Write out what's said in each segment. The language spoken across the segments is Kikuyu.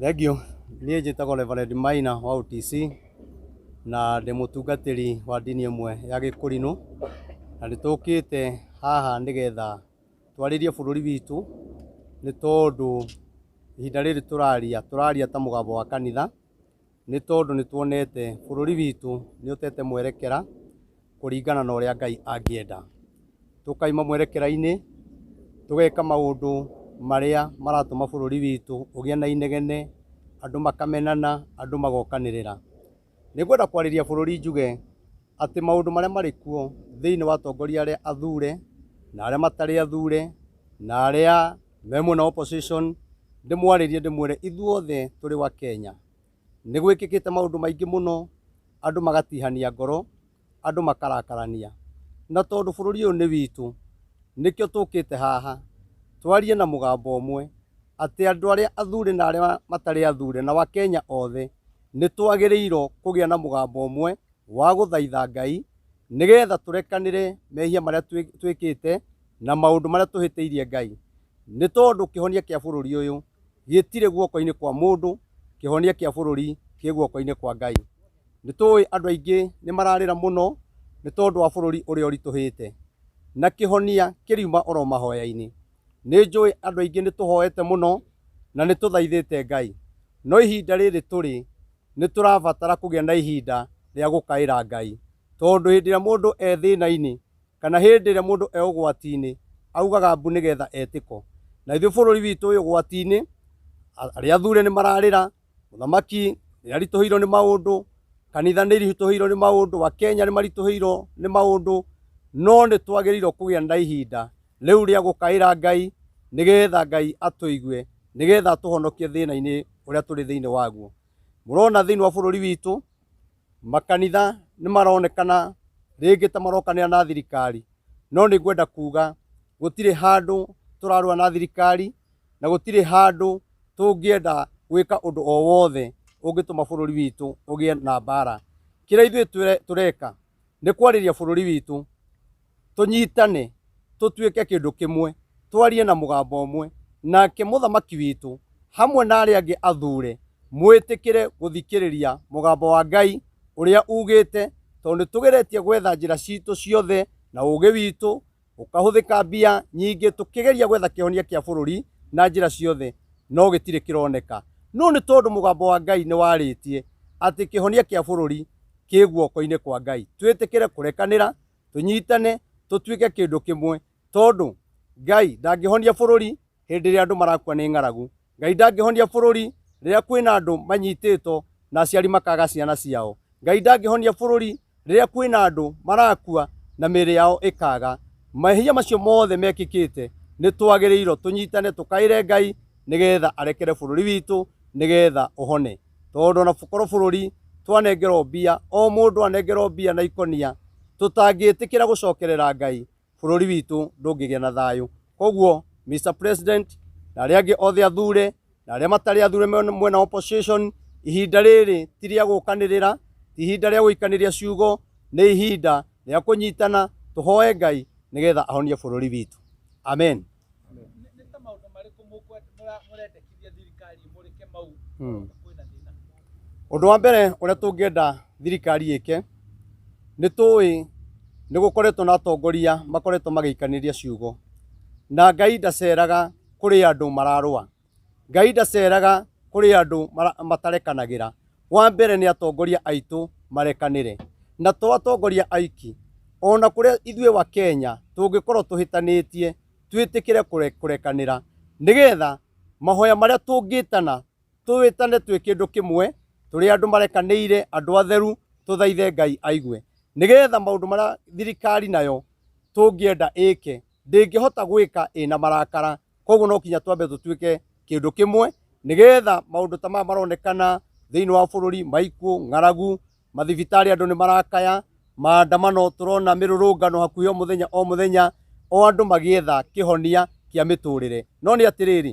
Thengiũ, niĩ njĩtagwo Reverend Maina wa OTC, na ndĩ mũtungatĩri wa ndini ĩmwe ya gĩkũrinũ, na nĩ tũkĩte haha nĩgetha twarĩrie bũrũri witũ, nĩ tondũ ihinda rĩrĩ tũraria, tũraria ta mũgambo wa kanitha, nĩ tondũ nĩ tuonete bũrũri witũ nĩ ũtete mwerekera kũringana na ũrĩa Ngai angĩenda. Tũkaima mwerekera-inĩ, tũgeka maũndũ marĩa maratũma bũrũri witũ ũgĩe na inegene, andũ makamenana, andũ magokanĩrĩra. Nĩ ngwenda kwarĩria bũrũri njuge atĩ maũndũ marĩa marĩ kuo thĩinĩ wa atongoria arĩa athure na arĩa matarĩ athure na arĩa... me mwena opposition ndĩmwarĩrie ndĩmwĩre ithuothe tũrĩ wa Kenya nĩ gwĩkĩkĩte maũndũ maingĩ mũno andũ magatihania ngoro andũ makarakarania na tondũ bũrũri ũyũ nĩ witũ nĩkĩo tũkĩte haha twarie na mũgambo ũmwe atĩ andũ arĩa athure na arĩa matarĩ athure na wakenya othe nĩ twagĩrĩirwo kũgĩa na mũgambo ũmwe wa gũthaitha Ngai nĩgetha tũrekanĩre mehia marĩa twĩkĩte na maũndũ marĩa tũhĩtĩirie Ngai, nĩ tondũ kĩhonia kĩa bũrũri ũyũ gĩtirĩ guoko-inĩ kwa mũndũ, kĩhonia kĩa bũrũri kĩ guoko-inĩ kwa Ngai. Nĩ tũĩ andũ aingĩ nĩ mararĩra mũno nĩ tondũ wa bũrũri ũrĩa ũritũhĩte, na kĩhonia kĩriuma oro mahoya-inĩ. Nĩ njũĩ andũ aingĩ nĩ tũhoete mũno na nĩ tũthaithĩte Ngai, no ihinda rĩrĩ tũrĩ nĩ tũrabatara kũgĩa na ihinda rĩa gũkaĩra Ngai, tondũ hĩndĩ ĩrĩa mũndũ e thĩna-inĩ, kana hĩndĩ ĩrĩa mũndũ e ũgwati-inĩ augaga mbu nĩgetha etĩko. Na ithuĩ bũrũri witũ wĩ ũgwati-inĩ, arĩa athure nĩ mararĩra, mũthamaki nĩ aritũhĩirwo nĩ maũndũ, kanitha nĩ iritũhĩirwo nĩ maũndũ, Akenya nĩ maritũhĩirwo nĩ maũndũ, no nĩ twagĩrĩirwo kũgĩa na ihinda rĩu rĩa gũkaĩra Ngai nĩgetha Ngai atũigue, nĩgetha atũhonokie thĩna-inĩ ũrĩa tũrĩ thĩinĩ waguo. Mũrona thĩinĩ wa bũrũri witũ makanitha nĩ maronekana rĩngĩ ta marokanĩra na thirikari no nĩ ngwenda kuga gũtirĩ handũ tũrarũa na thirikari na gũtirĩ handũ tũngĩenda gwĩka ũndũ o wothe ũngĩtũma bũrũri witũ ũgĩe na mbara. Kĩrĩa ithuĩ tũreka nĩ kwarĩria bũrũri witũ tũnyitane, tũtuĩke kĩndũ kĩmwe, twarie na mũgambo ũmwe, nake mũthamaki witũ hamwe na arĩa angĩ athuure, mwĩtĩkĩre gũthikĩrĩria mũgambo wa Ngai ũrĩa uugĩte, tondũ nĩ tũgeretie gwetha njĩra citũ ciothe na ũũgĩ witũ, gũkahũthĩka mbia nyingĩ tũkĩgeria gwetha kĩhonia kĩa bũrũri na njĩra ciothe, no gĩtirĩ kĩroneka. No nĩ tondũ mũgambo wa Ngai nĩ warĩtie atĩ kĩhonia kĩa bũrũri kĩ guoko-inĩ kwa Ngai, twĩtĩkĩre kũrekanĩra tũnyitane tũtuĩke kĩndũ kĩmwe tondũ Ngai ndangĩhonia bũrũri hĩndĩ ĩrĩa andũ marakua nĩ ng'aragu. Ngai ndangĩhonia bũrũri rĩrĩa kwĩna andũ manyitĩtwo na aciari makaga ciana ciao. Ngai ndangĩhonia bũrũri rĩrĩa kwĩna andũ marakua na mĩĩrĩ yao ĩkaga. Mehia macio mothe mekĩkĩte nĩ twagĩrĩirwo tũnyitane tũkaĩre Ngai nĩgetha arekere bũrũri witũ nĩgetha ũhone. tondũ ona korwo bũrũri twanengerwo mbia o mũndũ anengerwo mbia na ikũnia tũtangĩtĩkĩra gũcokerera ngai bũrũri witũ ndũngĩgĩa na thayũ koguo Mr President na arĩa angĩ othe athure na arĩa matarĩ athure me- mwena wa opposition ihinda rĩrĩ ti rĩa gũkanĩrĩra ti ihinda rĩa gũikanĩria ciugo nĩ ihinda rĩa kũnyitana tũhoe ngai nĩgetha ahonie bũrũri witũ amen Ũndũ wa mbere ũrĩa tũngĩenda thirikari ĩke, nĩ tũĩ nĩ gũkoretwo na atongoria makoretwo magĩikanĩria ciugo, na Ngai ndaceraga kũrĩ andũ mararũa. Ngai ndaceraga kũrĩ andũ matarekanagĩra. Wa mbere nĩ atongoria aitũ marekanĩre. Na to atongoria aiki, o na kũrĩa ithuĩ wa Kenya tũngĩkorwo tũhĩtanĩtie, twĩtĩkĩre kũrekanĩra nĩ getha mahoya marĩa tũngĩtana, tũĩtane twĩ kĩndũ kĩmwe, tũrĩ andũ marekanĩire, andũ atheru, tũthaithe Ngai aigue. Nĩ getha maũndũ marĩa thirikari nayo tũngĩenda ĩke, ndĩngĩhota gwĩka ĩna marakara koguo no kinya twambe tũtuĩke kĩndũ kĩmwe nĩgetha maũndũ ta maya maronekana thĩinĩ wa bũrũri maikuũ ng'aragu mathibitarĩ andũ nĩ marakaya maandamano tũrona mĩrũrũngano hakuhĩ o mũthenya o mũthenya o andũ magĩetha kĩhonia kĩa mĩtũrĩre no nĩ atĩrĩrĩ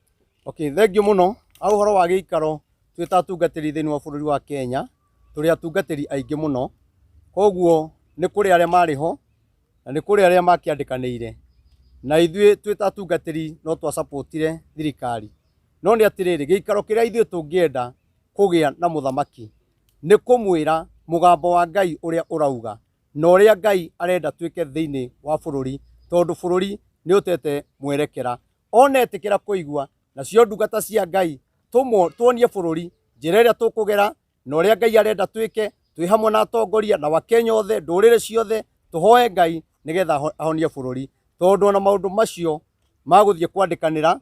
Okay, thengio muno ha horo wa gĩikaro twĩ ta atungatĩri thĩinĩ wa bũrũri wa Kenya tũrĩ atungatĩri aingĩ mũno, koguo nĩ kũrĩ arĩa marĩ ho na nĩ kũrĩ arĩa makĩandĩkanĩire na ithuĩ twĩ ta atungatĩri no twa support -ire thirikari, no nĩ atĩrĩrĩ gĩikaro kĩrĩa ithuĩ tũngĩenda kũgĩa na mũthamaki nĩ kũmwĩra mũgambo wa Ngai ũrĩa ũrauga na ũrĩa Ngai arenda twĩke thĩinĩ wa bũrũri tondũ bũrũri nĩ ũtete mwerekera. onetĩkĩra kũigua nacio ndungata cia Ngai tũmwo tuonie bũrũri njĩra ĩrĩa tũkũgera na ũrĩa Ngai arenda twĩke twĩ hamwe na atongoria na Wakenya othe ndũrĩrĩ ciothe tũhoe Ngai nĩgetha aho- ahonie bũrũri tondũ ona maũndũ macio magũthiĩ kwandĩkanĩra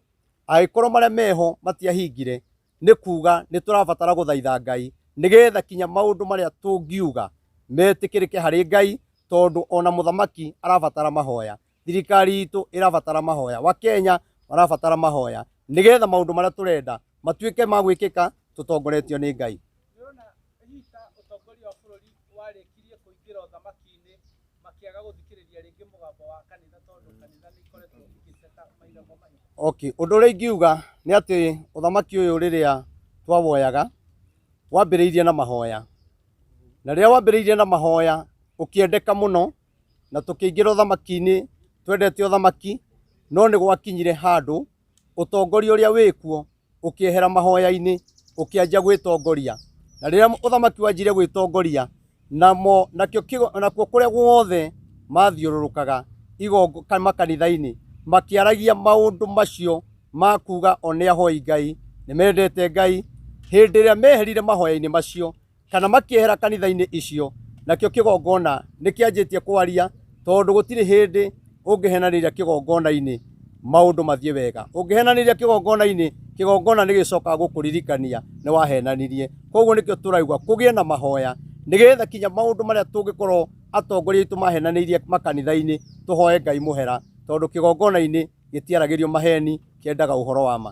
agĩkorwo marĩa meho matiahingire nĩ kuga nĩ tũrabatara gũthaitha Ngai nĩgetha kinya maũndũ marĩa tũngiuga metĩkĩrĩke harĩ Ngai tondũ ona mũthamaki arabatara mahoya thirikari itũ ĩrabatara mahoya wakenya marabatara mahoya nigetha maundu maria turenda matuike ma gwikika tutongoretio ni ngai Nĩũrona Rita ũtongoria wa bũrũri warĩkirie kũingĩra ũthamaki-inĩ makĩaga gũthikĩrĩria rĩngĩ mũgambo wa kanitha tondũ kanitha nĩ ikoretwo igĩceka mahinda kwa mahinda. okay ũndũ ũrĩa ingiuga nĩ atĩ ũthamaki ũyũ rĩrĩa twawoyaga wambĩrĩirie na mahoya na rĩrĩa wambĩrĩirie na mahoya ũkĩendeka mũno na tũkĩingĩra ũthamaki-inĩ twendete ũthamaki no nĩ gwakinyire handũ ũtongoria ũrĩa wĩkuo ũkĩehera mahoya-inĩ ũkĩanjia gwĩtongoria na rĩrĩa ũthamaki wanjire gwĩtongoria namo nakĩo kĩgo- nakuo kũrĩa guothe mathiũrũrũkaga igongo ka- makanitha-inĩ makĩaragia maũndũ macio ma kuga o nĩ ahoi Ngai nĩ mendete Ngai hĩndĩ ĩrĩa meherire mahoya-inĩ macio kana makĩehera kanitha-inĩ icio, nakĩo kĩgongona nĩ kĩanjĩtie kwaria, tondũ gũtirĩ hĩndĩ ũngĩhenanĩria kĩgongona-inĩ maũndũ mathiĩ wega. Ũngĩhenanĩria kĩgongona-inĩ, kĩgongona nĩ gĩcokaga gũkũririkania nĩ wahenanirie. Koguo nĩkĩo tũraigua kũgĩe na mahoya, nĩgetha kinya maũndũ marĩa tũngĩkorwo atongoria aitũ mahenanĩirie makanitha-inĩ, tũhoe Ngai mũhera, tondũ kĩgongona-inĩ gĩtiaragĩrio maheni, kĩendaga ũhoro wa ma.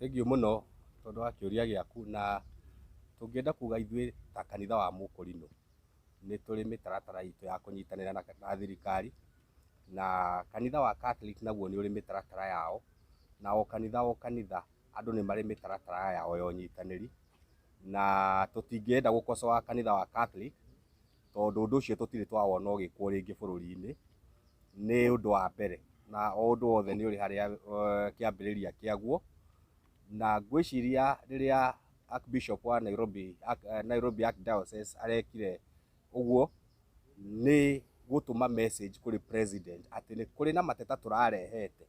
Thengiũ mũno tondũ wa kĩũria gĩaku na tũngĩenda kuga ithuĩ ta kanitha wa Mũkũrinũ, nĩ tũrĩ mĩtaratara itũ ya kũnyitanĩra na thirikari, na kanitha wa Catholic naguo nĩ ũrĩ mĩtaratara yao, na o kanitha o kanitha andũ nĩ marĩ mĩtaratara yao ya ũnyitanĩri, na tũtingĩenda gũkosoa kanitha wa Catholic, tondũ ũndũ ũcio tũtirĩ twawona ũgĩkwo rĩngĩ bũrũri-inĩ, nĩ ũndũ wa mbere, na o ũndũ wothe nĩ ũrĩ harĩa kĩambĩrĩria kĩaguo, na ngwĩciria rĩrĩa Archbishop wa Nairobi, Arch- eh, Nairobi Archdiocese arekire ũguo nĩ gũtũma message kũrĩ president atĩ nĩ kũrĩ na mateta tũrarehete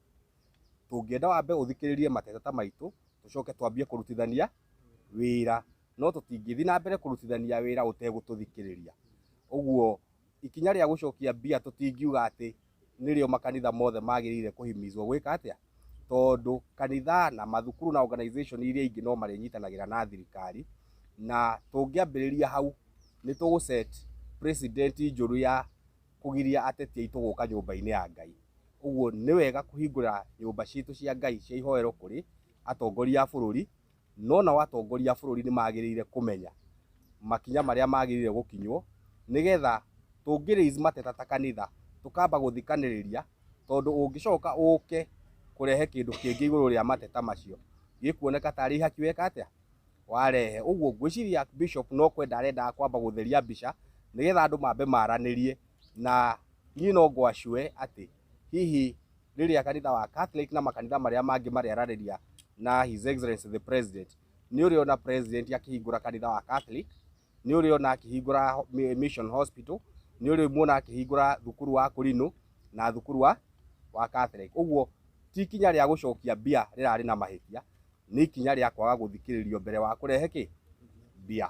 tũngĩenda wambe ũthikĩrĩrie mateta maitũ tũcoke twambie kũrutithania wĩra no tũtingĩthiĩ na mbere kũrutithania wĩra ũtegũtũthikĩrĩria ũguo ikinya rĩa gũcokia mbia tũtingiuga atĩ nĩrĩo makanitha mothe magĩrĩire kũhimizwo gwĩka atĩa? Tondũ kanitha na mathukuru na organization iria ingĩ no marĩnyitanagĩra na thirikari, na tũngĩambĩrĩria hau nĩ tũgũ set precedent njũru ya kũgiria ateti aitũ gũka nyũmba-inĩ ya Ngai. Ũguo nĩ wega kũhingũra nyũmba citũ cia Ngai cia ihoero kũrĩ atongoria a bũrũri, no nao atongoria a bũrũri nĩ magĩrĩire kũmenya makinya marĩa magĩrĩire gũkinywo nĩ getha tũngĩ raise mateta ta kanitha tũkamba gũthikanĩrĩria tondũ ũngĩcoka ũke kũrehe kĩndũ kĩngĩ igũrũ rĩa mateta macio gĩkuoneka tarĩ ihaki weka atĩa? warehe. Ũguo ngwĩciria Bishop no kwenda arendaga kwamba gũtheria mbica nĩ getha andũ mambe maranĩrie na niĩ no ngwacũe atĩ hihi rĩrĩa kanitha wa Catholic na makanitha marĩa mangĩ marearanĩria na His Excellency the President, nĩ ũrĩ ona President akĩhingũra kanitha wa Catholic, nĩ ũrĩ ona akĩhingũra ho- mi- Mission Hospital, nĩ ũrĩ muona akĩhingũra thukuru wa Kũrinũ na thukuru wa wa Catholic. Ũguo ti ikinya rĩa gũcokia mbia rĩrarĩ na mahĩtia, nĩ ikinya rĩa kwaga gũthikĩrĩrio mbere wa kũrehe kĩ mbia.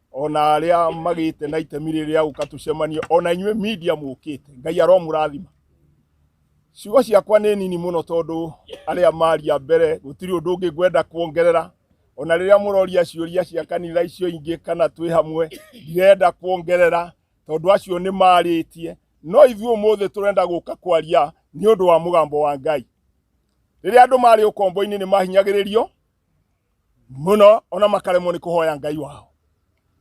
ona aria magite na itemi riri ya guka tucemanie ona inyue media mukite ngai aromurathima ciugo ciakwa ni nini muno tondu aria maria mbere gutiri undu ungi ngwenda kuongerera ona riria muroria ciuria cia kanitha icio ingi kana twi hamwe ndirenda kuongerera tondu acio ni maritie no ithuĩ ũmũthĩ tũrenda gũka kwaria nĩ ũndũ wa mũgambo wa ngai rĩrĩa andũ marĩ ũkombo-inĩ nĩ mahinyagĩrĩrio muno ona makaremwo nĩ kũhoya ngai wao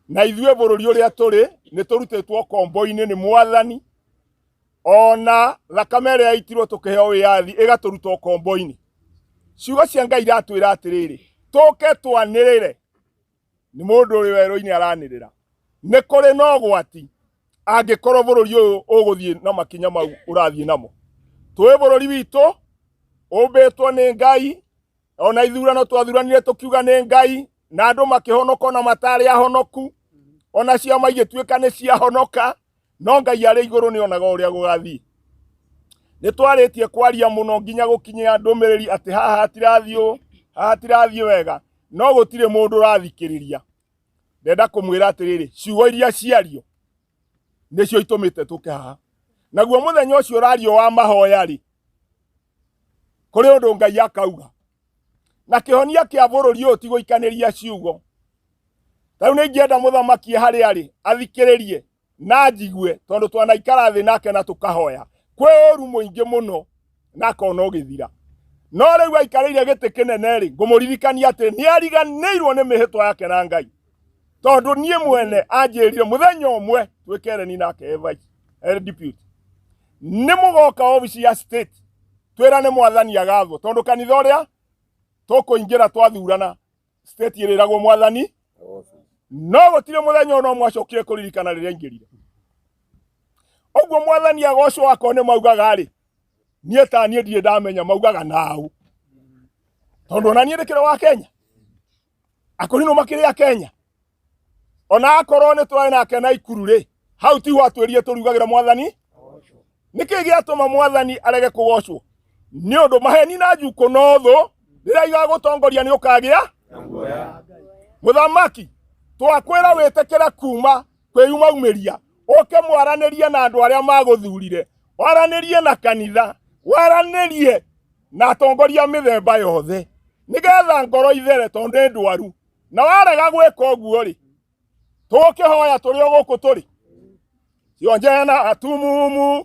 na ithuĩ bũrũri ũrĩa tũrĩ nĩ tũrutĩtwo kombo-inĩ nĩ mwathani ona thakame ĩrĩa yaitirwo tũkĩheo wĩyathi ĩgatũruta ũkombo-inĩ ciugo cia ngai iratwĩra atĩrĩrĩ tũke twanĩrĩre nĩ mũndũ ũrĩ werũ-inĩ aranĩrĩra nĩ kũrĩ na ũgwati angĩkorwo bũrũri ũyũ ũgũthiĩ na makinya mau ũrathiĩ namo twĩ bũrũri witũ ũmbĩtwo nĩ ngai ona ithurano twathuranire tũkiuga nĩ ngai na andũ makĩhonoka ona matarĩ ahonoku ona ciama igĩtuĩka nĩ ciahonoka no ngai arĩ igũrũ nĩ onaga ũrĩa gũgathiĩ nĩ twarĩtie kwaria mũno nginya gũkinyia ndũmĩrĩri atĩ haha hatirathiĩ ũũ haha hatirathiĩ wega no gũtirĩ mũndũ ũrathikĩrĩria ndenda kũmwĩra atĩrĩrĩ ciugo iria ciario nĩcio itũmĩte tũke haha naguo mũthenya ũcio ũrario wa mahoya rĩ kũrĩ ũndũ ngai akauga na kĩhonia kĩa bũrũri ũyũ ti gũikanĩria ciugo tarĩu nĩ ingĩenda mũthamaki harĩ arĩ athikĩrĩrie na njigue tondũ twanaikara thĩ nake na tũkahoya kwĩ ũru mũingĩ mũno na akona ũgĩthira no rĩu aikarĩire gĩtĩ kĩnene rĩ ngũmũririkania atĩ nĩ ariganĩirwo nĩ mĩhĩtwa yake na ngai tondũ niĩ mwene anjĩrire mũthenya ũmwe twĩkereni nake evice eh, deputy nĩ mũgoka obici ya state twĩra nĩ mwathani agathwo tondũ kanitha ũrĩa tũkũingĩra twathurana state ĩrĩragwo mwathani no gũtirĩ mũthenya ona ũmwe acokire kũririkana rĩrĩa aingĩrire ũguo mwathani agocwo akorwo nĩ maugaga rĩ niĩ ta niĩ ndirĩ ndamenya maugaga naũ tondũ ona niĩ ndĩkĩrĩ wa kenya akorwo no makĩrĩ a kenya ona akorwo nĩ twarĩ nake na ikuru rĩ hau ti watwĩrire tũrugagĩra mwathani nĩkĩ gĩatũma mwathani arege kũgocwo nĩ ũndũ maheni na njukũ no thũ rĩrĩa igagũtongoria nĩ ũkagĩa mũthamaki twakwĩra wĩtĩkĩre kuma kwĩyumaumiria ũke mwaranĩrie na andũ arĩa magũthurire waranĩrie na kanitha waranĩrie na atongoria mĩthemba yothe nĩgetha ngoro ithere tondũ nĩ ndwaru na warega gwĩka ũguo rĩ tũkĩhoya tũrĩ o gũkũ tũrĩ cionje na atumumu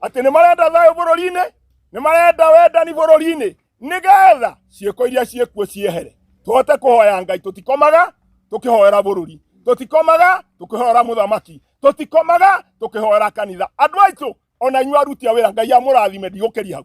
atĩ nĩ marenda thayũ bũrũri-inĩ nĩ marenda wendani bũrũri-inĩ nĩgetha ciĩko iria ciĩkuo ciehere tũhote kũhoya ngai tũtikomaga tũkĩhoera bũrũri tũtikomaga tũkĩhoera mũthamaki tũtikomaga tũkĩhoera kanitha andũ aitũ ona inyuĩ aruti a wĩra ngai amũrathime ndigũkĩria hau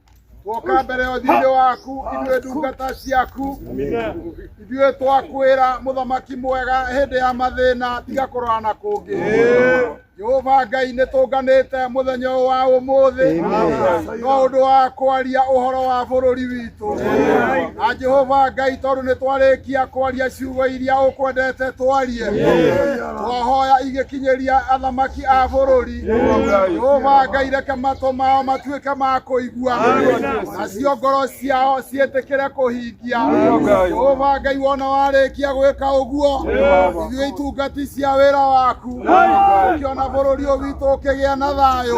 twoka mbere ya ũthiinĩ waku ithuĩ ndungata ciaku ithuĩ twakwĩra mũthamaki mwega hĩndĩ ya mathĩna tiga kũrora na kũngĩ jehova ngai nĩ tũnganĩte mũthenya ũyũ wa ũmũthĩ no ũndũ wa kwaria ũhoro wa bũrũri witũ na jehova ngai tondũ nĩ twarĩkia kwaria ciugo iria ũkwendete twarie twahoya igĩkinyĩria athamaki a bũrũri Jehova Ngai reke matũ mao matuĩke ma kũigua nacio ngoro ciao ciĩtĩkĩre kũhingia Jehova Ngai wona warĩkia gwĩka ũguo ithuĩ itungati cia wĩra waku ũkĩona bũrũri ũyũ witũ ũkĩgĩa na thayũ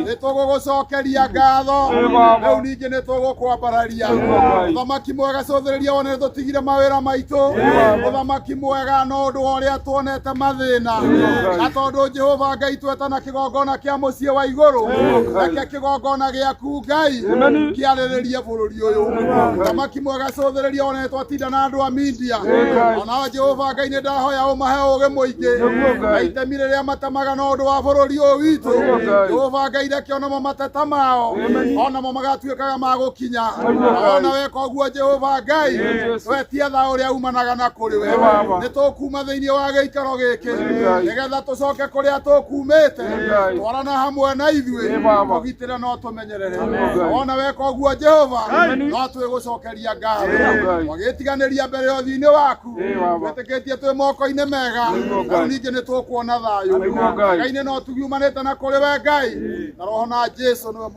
nĩ tũgũgũcokeria ngatho rĩu ningĩ nĩ tũgũkwambararia ũthamaki mwega cũthĩrĩria wone nĩ tũtigire mawĩra maitũ ũthamaki mwega na ũndũ wa ũrĩa tuonete mathĩna na tondũ jehova ngai tweta na kĩgongona kĩa mũciĩ wa igũrũ reke kĩgongona gĩaku ngai kĩarĩrĩrie bũrũri ũyũ thamaki mwega cũthĩrĩria one twatinda na andũ a mindia onao jehova ngai nĩ ndahoya ũmahe ũgĩ mũingĩ na itemi rĩrĩa matemaga na ũndũ wa bũrũri ũyũ witũ jehova ngai reke onamo mateta mao onamo magatuĩka matuĩkaga ma gũkinya ona weka ũguo jehova ngai wetia tha ũrĩa umanaga na kũrĩ we nĩ tũkuma thĩinĩ wa gĩikaro gĩkĩ nĩgetha tũcoke kũrĩa tũkumĩte twarana hamwe na ithuĩ tũgitĩre no tũmenyerere ona weka ũguo jehova no twĩgũcokeria ngatho wagĩtiganĩria mbere ya ũthiinĩ waku wĩtĩkĩtie twĩ moko-inĩ mega rĩu ningĩ nĩ tũkuona thayũ ngai-inĩ no tugiumanĩte na kũrĩ we ngai na roho na jesu nĩwe